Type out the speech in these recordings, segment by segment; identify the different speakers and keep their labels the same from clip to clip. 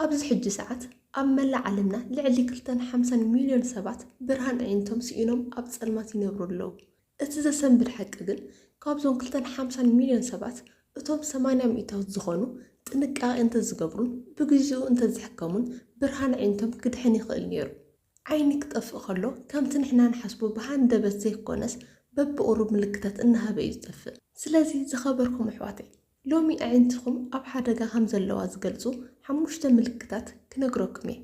Speaker 1: ኣብዚ ሕጂ ሰዓት ኣብ መላእ ዓለምና ልዕሊ ክልተን ሓምሳን ሚልዮን ሰባት ብርሃን ኣዒንቶም ስኢኖም ኣብ ጸልማት ይነብሩ ኣለዉ። እቲ ዘሰንብድ ሓቂ ግን ካብዞም ክልተን ሓምሳን ሚልዮን ሰባት እቶም ሰማንያ ሚእታዊት ዝኾኑ ጥንቃቄ እንተዝገብሩን ብግዚኡ እንተዝሕከሙን ብርሃን ኣዒንቶም ክድሕን ይኽእል ነይሩ። ዓይኒ ክጠፍእ ከሎ ከምቲ ንሕና ንሓስቦ ብሃንደበት ዘይኮነስ በብቁሩብ ምልክታት እናሃበ እዩ ዝጠፍእ። ስለዚ ዝኸበርኩም ኣሕዋተይ ሎሚ ኣዒንትኹም ኣብ ሓደጋ ከም ዘለዋ ዝገልጹ ሓሙሽተ ምልክታት ክነግረኩም እየ።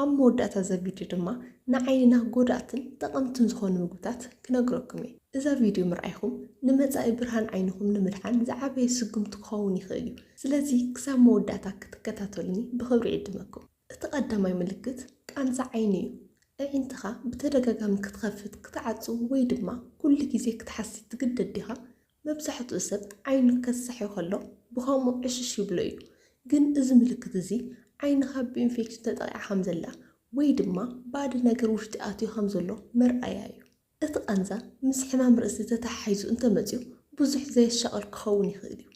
Speaker 1: ኣብ መወዳእታ እዛ ቪድዮ ድማ ንዓይንና ጎዳእትን ጠቐምትን ዝኾኑ ምግብታት ክነግረኩም እየ። እዛ ቪድዮ ምርኣይኹም ንመጻኢ ብርሃን ዓይንኹም ንምድሓን ዝዓበየ ስጉምቲ ክኸውን ይኽእል እዩ። ስለዚ ክሳብ መወዳእታ ክትከታተሉኒ ብኽብሪ ይዕድመኩም። እቲ ቀዳማይ ምልክት ቃንዛ ዓይኒ እዩ። ኣዒንትኻ ብተደጋጋሚ ክትኸፍት፣ ክትዓጹ ወይ ድማ ኩሉ ግዜ ክትሓሲ ትግደድ ዲኻ? መብዛሕትኡ ሰብ ዓይኑ ከሳሒ ከሎ ብኸምኡ ዕሽሽ ይብሎ እዩ። ግን እዚ ምልክት እዚ ዓይንኻ ብኢንፌክሽን ተጠቒዓ ከም ዘላ ወይ ድማ ባእዲ ነገር ውሽጢ ኣትዩ ከም ዘሎ መርኣያ እዩ። እቲ ቃንዛ ምስ ሕማም ርእሲ ተተሓሒዙ እንተመጺኡ ብዙሕ ዘየሻቕል ክኸውን ይኽእል እዩ።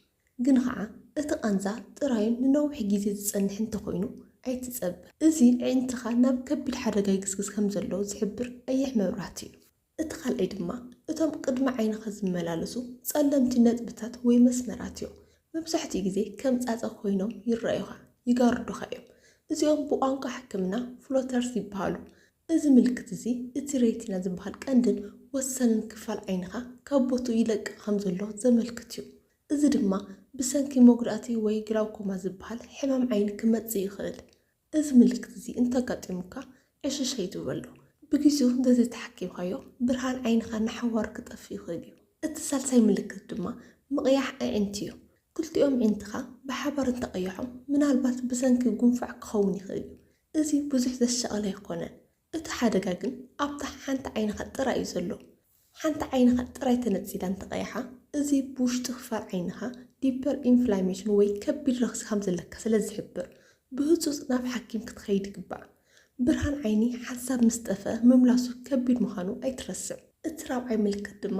Speaker 1: ግን ኸኣ እቲ ቃንዛ ጥራዩን ንነዊሕ ግዜ ዝጸንሕ እንተኾይኑ ኣይትጸበ። እዚ ኣዒንትኻ ናብ ከቢድ ሓደጋ ይግስግስ ከም ዘሎ ዝሕብር ቀይሕ መብራህቲ እዩ። እቲ ካልኣይ ድማ እቶም ቅድሚ ዓይንኻ ዝመላለሱ ጸለምቲ ነጥብታት ወይ መስመራት እዮም። መብዛሕትኡ ግዜ ከም ጻጸ ኮይኖም ይረኣዩኻ፣ ይጋርዱኻ እዮም። እዚኦም ብቋንቋ ሕክምና ፍሎተርስ ይበሃሉ። እዚ ምልክት እዚ እቲ ሬቲና ዝበሃል ቀንድን ወሳንን ክፋል ዓይንኻ ካብ ቦትኡ ይለቅቕ ከም ዘሎ ዘመልክት እዩ። እዚ ድማ ብሰንኪ መጉዳእቲ ወይ ግላውኮማ ዝበሃል ሕማም ዓይኒ ክመጽእ ይኽእል። እዚ ምልክት እዚ እንተጋጢሙካ ዕሽሽ ኣይትበሎ። ብግዜኡ እንተዘይተሓኪምካዮ ብርሃን ዓይንኻ ንሓዋሩ ክጠፍእ ይኽእል እዩ። እቲ ሳልሳይ ምልክት ድማ ምቕያሕ ኣዒንቲ እዩ። ክልቲኦም ኣዒንትኻ ብሓባር እንተቐይሖም ምናልባት ብሰንኪ ጉንፋዕ ክኸውን ይኽእል እዩ። እዚ ብዙሕ ዘሻቕል ኣይኮነን። እቲ ሓደጋ ግን ኣብታ ሓንቲ ዓይንኻ ጥራይ እዩ ዘሎ። ሓንቲ ዓይንኻ ጥራይ ተነጺላ እንተቐይሓ፣ እዚ ብውሽጢ ክፋል ዓይንኻ ዲፐር ኢንፍላሜሽን ወይ ከቢድ ረኽሲ ከም ዘለካ ስለ ዝሕብር፣ ብህጹጽ ናብ ሓኪም ክትኸይድ ይግባእ። ብርሃን ዓይኒ ሓንሳብ ምስ ጠፍኣ ምምላሱ ከቢድ ምዃኑ ኣይትረስዕ። እቲ ራብዓይ ምልክት ድማ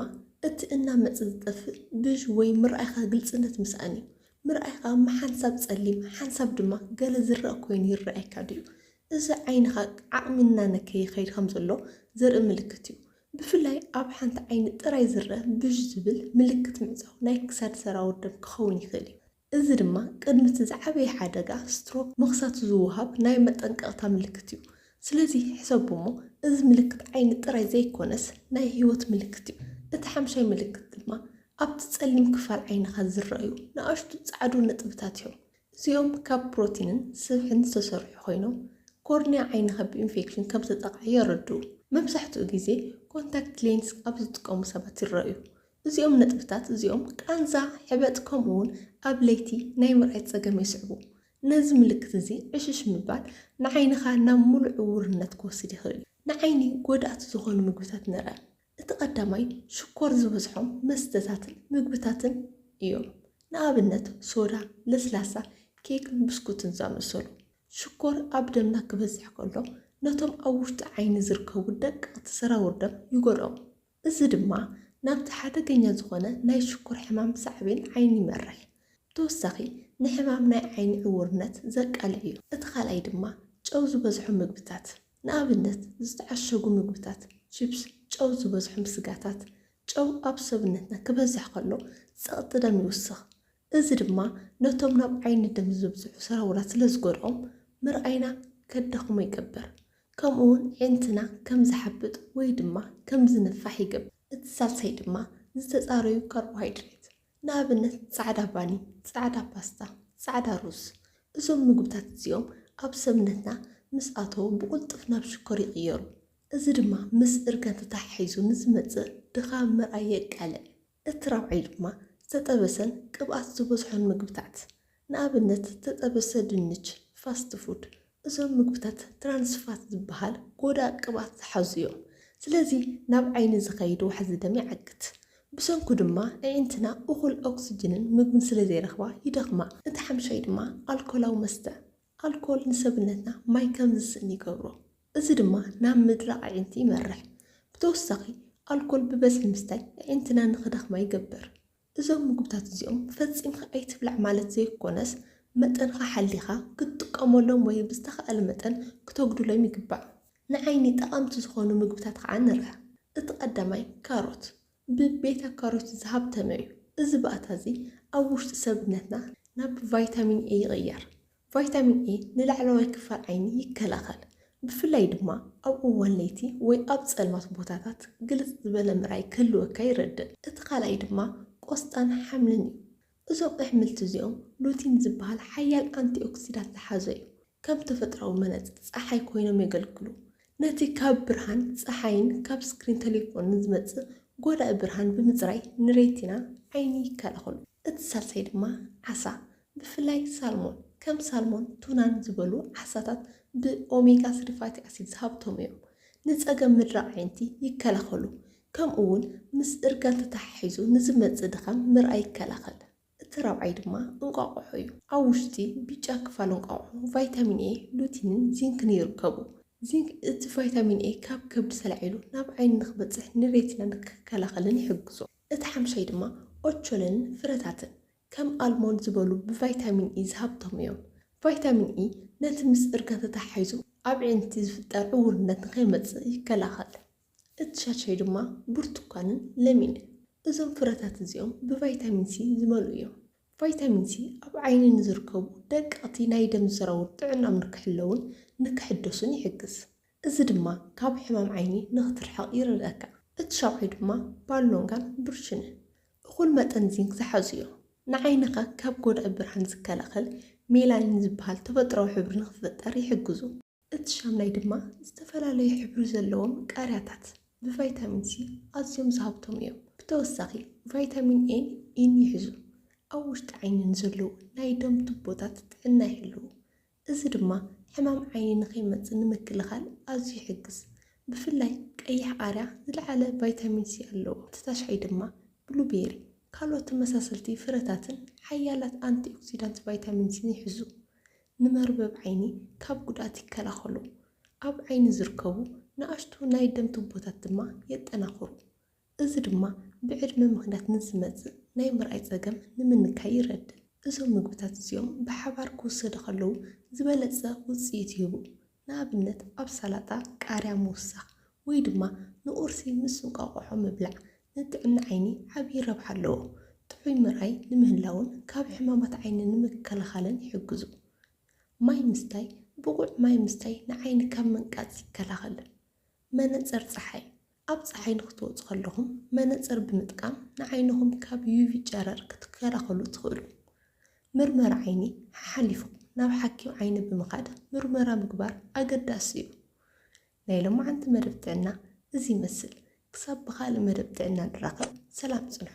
Speaker 1: እቲ እናመጸ ዝጠፍእ ብዥ ወይ ምርኣይካ ግልጽነት ምስኣን እዩ። ምርኣይ ኸኣ ምሓንሳብ ጸሊም ሓንሳብ ድማ ገለ ዝረኣ ኮይኑ ይረኣየካ ድዩ? እዚ ዓይንኻ ዓቕሚ እናነከየ ይኸይድ ከም ዘሎ ዘርኢ ምልክት እዩ። ብፍላይ ኣብ ሓንቲ ዓይኒ ጥራይ ዝረኣ ብዥ ዝብል ምልክት ምዕጻው ናይ ክሳድ ሰራውር ደም ክኸውን ይኽእል እዩ። እዚ ድማ ቅድሚ እቲ ዝዓበየ ሓደጋ፣ ስትሮክ፣ ምኽሳቱ ዝወሃብ ናይ መጠንቀቕታ ምልክት እዩ። ስለዚ ሕሰቡ እሞ እዚ ምልክት ዓይኒ ጥራይ ዘይኰነስ ናይ ህይወት ምልክት እዩ። እቲ ሓምሻይ ምልክት ድማ ኣብቲ ጸሊም ክፋል ዓይንኻ ዝረኣዩ ንኣሽቱ ጻዕዱ ነጥብታት እዮም። እዚኦም ካብ ፕሮቲንን ስብሕን ዝተሰርሑ ኰይኖም ኮርንያ ዓይንኻ ብኢንፌክሽን ከም ዝተጠቕዐ የረድኡ። መብዛሕትኡ ግዜ ኮንታክት ሌንስ ኣብ ዝጥቀሙ ሰባት ይረኣዩ። እዚኦም ነጥብታት እዚኦም ቃንዛ፣ ሕበጥ ከምኡውን ኣብ ለይቲ ናይ ምርኣይ ጸገም የስዕቡ። ነዚ ምልክት እዚ ዕሽሽ ምባል ንዓይንኻ ናብ ምሉእ ዕዉርነት ክወስድ ይኽእል እዩ። ንዓይኒ ጎዳእቲ ዝኾኑ ምግብታት ንርኣ። እቲ ቀዳማይ ሽኮር ዝበዝሖም መስተታትን ምግብታትን እዮም፣ ንኣብነት ሶዳ፣ ለስላሳ፣ ኬክን ብስኩትን ዝኣመሰሉ። ሽኮር ኣብ ደምና ክበዝሕ ከሎ ነቶም ኣብ ውሽጢ ዓይኒ ዝርከቡ ደቀቕቲ ሰራውር ደም ይጎድኦም። እዚ ድማ ናብቲ ሓደገኛ ዝኾነ ናይ ሽኮር ሕማም ሳዕቤን ዓይኒ ይመርሕ። ብተወሳኺ ንሕማም ናይ ዓይኒ ዕዉርነት ዘቃልዕ እዩ። እቲ ካልኣይ ድማ ጨው ዝበዝሖ ምግብታት፣ ንኣብነት ዝተዓሸጉ ምግብታት፣ ቺፕስ፣ ጨው ዝበዝሖም ስጋታት። ጨው ኣብ ሰብነትና ክበዝሕ ከሎ ጸቕጢ ደም ይውስኽ፣ እዚ ድማ ነቶም ናብ ዓይኒ ደም ዝብጽሑ ሰራውራት ስለ ዝጎድኦም ምርኣይና ከዳኽሞ ይገብር፣ ከምኡ'ውን ኣዒንትና ከም ዝሓብጥ ወይ ድማ ከም ዝንፋሕ ይገብር። እቲ ሳልሳይ ድማ ዝተጻረዩ ካርቦሃይድሬት፣ ንኣብነት ጻዕዳ ባኒ፣ ጻዕዳ ፓስታ፣ ጻዕዳ ሩዝ። እዞም ምግብታት እዚኦም ኣብ ሰብነትና ምስ ኣተዉ ብቕልጡፍ ናብ ሽኮር ይቕየሩ፣ እዚ ድማ ምስ እርጋን ተተሓሒዙ ንዝመጽእ ድኻም ምርኣይ የቃልዕ። እቲ ራብዓይ ድማ ዝተጠበሰን ቅብኣት ዝበዝሖን ምግብታት፣ ንኣብነት ዝተጠበሰ ድንች፣ ፋስት ፉድ፣ እዞም ምግብታት ትራንስ ፋት ዝበሃል ጎዳእ ቅብኣት ዝሓዙ እዮም። ስለዚ ናብ ዓይኒ ዝኸይድ ዋሕዚ ደም ይዓግት። ብሰንኩ ድማ ኣዒንትና እኹል ኦክስጅንን ምግብን ስለዘይረኽባ ይደኽማ። እቲ ሓምሻይ ድማ ኣልኮላዊ መስተ፣ ኣልኮል ንሰብነትና ማይ ከም ዝስእን ይገብሮ፣ እዚ ድማ ናብ ምድራቕ ኣዒንቲ ይመርሕ። ብተወሳኺ፣ ኣልኮል ብበዝሒ ምስታይ ኣዒንትና ንኽደኽማ ይገብር። እዞም ምግብታት እዚኦም ፈጺምካ ኣይትብላዕ ማለት ዘይኰነስ፣ መጠንኻ ሓሊኻ ክትጥቀመሎም ወይ ብዝተኻእለ መጠን ክተጕድሎም ይግባእ። ንዓይኒ ጠቐምቲ ዝዀኑ ምግብታት ኸኣ ንርኣ። እቲ ቀዳማይ ካሮት፣ ብቤታ-ካሮት ዝሃብተመ እዩ። እዚ ባእታ እዚ ኣብ ውሽጢ ሰብነትና ናብ ቫይታሚን ኤ ይቕየር። ቫይታሚን ኤ ንላዕለዋይ ክፋል ዓይኒ ይከላኸል፣ ብፍላይ ድማ ኣብ እዋን ለይቲ ወይ ኣብ ጸልማት ቦታታት ግልጽ ዝበለ ምርኣይ ክህልወካ ይረድእ። እቲ ካልኣይ ድማ ቆስጣን ሓምልን እዩ። እዞም ኣሕምልቲ እዚኦም ሉቲን ዝበሃል ሓያል ኣንቲኦክሲዳት ዝሓዙ እዮም። ከም ተፈጥሮኣዊ መነጽር ጸሓይ ኮይኖም የገልግሉ። ነቲ ካብ ብርሃን ጸሓይን ካብ ስክሪን ተሌፎንን ዝመጽእ ጎዳኢ ብርሃን ብምጽራይ ንሬቲና፣ ዓይኒ፣ ይከላኸሉ። እቲ ሳልሳይ ድማ ዓሳ፣ ብፍላይ ሳልሞን፣ ከም ሳልሞን፣ ቱናን ዝበሉ ዓሳታት ብኦሜጋ ስሪ ፋቲ ኣሲድ ዝሃብተሙ እዮም። ንጸገም ምድራቕ ኣዒንቲ ይከላኸሉ። ከምኡ'ውን ምስ እርጋን ተተሓሒዙ ንዝመጽእ ድኻም ምርኣይ ይከላኸል። እቲ ራብዓይ ድማ እንቋቑሖ እዩ። ኣብ ውሽጢ ብጫ ክፋል እንቋቑሖ ቫይታሚን ኤ፣ ሉቲንን ዚንክን ይርከቡ። ዚንክ እቲ ቫይታሚን ኤ ካብ ከብዲ ተላዒሉ ናብ ዓይኒ ንኽበጽሕ ንሬቲና ንክከላኸልን ይሕግዞ። እቲ ሓምሻይ ድማ ኦቾሎኒን ፍረታትን፣ ከም ኣልሞንድ ዝበሉ ብቫይታሚን ኢ ዝሃብተሙ እዮም። ቫይታሚን ኢ ነቲ ምስ እርጋን ተተሓሒዙ ኣብ ኣዒንቲ ዝፍጠር ዕውርነት ንኸይመጽእ ይከላኸል። እቲ ሻድሻይ ድማ ብርቱኳንን ለሚንን እዩ። እዞም ፍረታት እዚኦም ብቫይታሚን ሲ ዝመልኡ እዮም። ቫይታሚን ሲ ኣብ ዓይኒ ንዝርከቡ ደቀቕቲ ናይ ደም ሰራውር ጥዕናኦም ንክሕለዉን ንክሕደሱን ይሕግዝ። እዚ ድማ ካብ ሕማም ዓይኒ ንክትርሕቕ ይረድኣካ። እቲ ሻብዓይ ድማ ባሎንጋን ብርችንን እኹል መጠን ዚንክ ዝሓዙ እዮም። ንዓይንኻ ካብ ጎዳኢ ብርሃን ዝከላኸል ሜላኒን ዝበሃል ተፈጥሮኣዊ ሕብሪ ንክፍጠር ይሕግዙ። እቲ ሻምናይ ድማ ዝተፈላለዩ ሕብሪ ዘለዎም ቃርያታት ብቫይታሚን ሲ ኣዝዮም ዝሃብተሙ እዮም። ብተወሳኺ ቫይታሚን ኤን ኢን ይሕዙ። ኣብ ውሽጢ ዓይኒ ንዘለዉ ናይ ደም ቱቦታት ጥዕና ይሕልዉ። እዚ ድማ ሕማም ዓይኒ ንኸይመጽእ ንምክልኻል ኣዝዩ ይሕግዝ። ብፍላይ ቀይሕ ቃርያ ዝለዓለ ቫይታሚን ሲ ኣለዎ። እቲ ታሽዓይ ድማ ብሉቤሪ ካልኦት ተመሳሰልቲ ፍረታትን ሓያላት ኣንቲኦክሲዳንት ቫይታሚን ሲን ይሕዙ። ንመርበብ ዓይኒ ካብ ጉድኣት ይከላኸሉ። ኣብ ዓይኒ ዝርከቡ ንኣሽቱ ናይ ደም ቱቦታት ድማ የጠናኽሩ። እዚ ድማ ብዕድመ ምኽንያት ንዝመጽእ ናይ ምርኣይ ጸገም ንምንካይ ይረድእ። እዞም ምግብታት እዚኦም ብሓባር ክውሰዱ ከለዉ ዝበለጸ ውጽኢት ይህቡ፣ ንኣብነት ኣብ ሰላጣ ቃርያ ምውሳኽ ወይ ድማ ንቁርሲ ምስ እንቋቑሖ ምብላዕ ንጥዕና ዓይኒ ዓብዪ ረብሓ ኣለዎ። ጥዑይ ምርኣይ ንምህላውን ካብ ሕማማት ዓይኒ ንምክልኻልን ይሕግዙ። ማይ ምስታይ፣ ብቑዕ ማይ ምስታይ ንዓይኒ ካብ ምንቃጽ ይከላኸል። መነጽር ጸሓይ፣ ኣብ ጸሓይ ንኽትወጹ ከለኹም መነጽር ብምጥቃም ንዓይንኹም ካብ ዩቪ ጨረር ክትከላኸሉ ትኽእሉ። ምርመራ ዓይኒ ሓሓሊፍኩም ናብ ሓኪም ዓይኒ ብምኻድ ምርመራ ምግባር ኣገዳሲ እዩ። ናይ ሎማዓንቲ መደብ ጥዕና እዚ ይመስል። ክሳብ ብኻልእ መደብ ጥዕና ንራኸብ ሰላም ጽንሑ።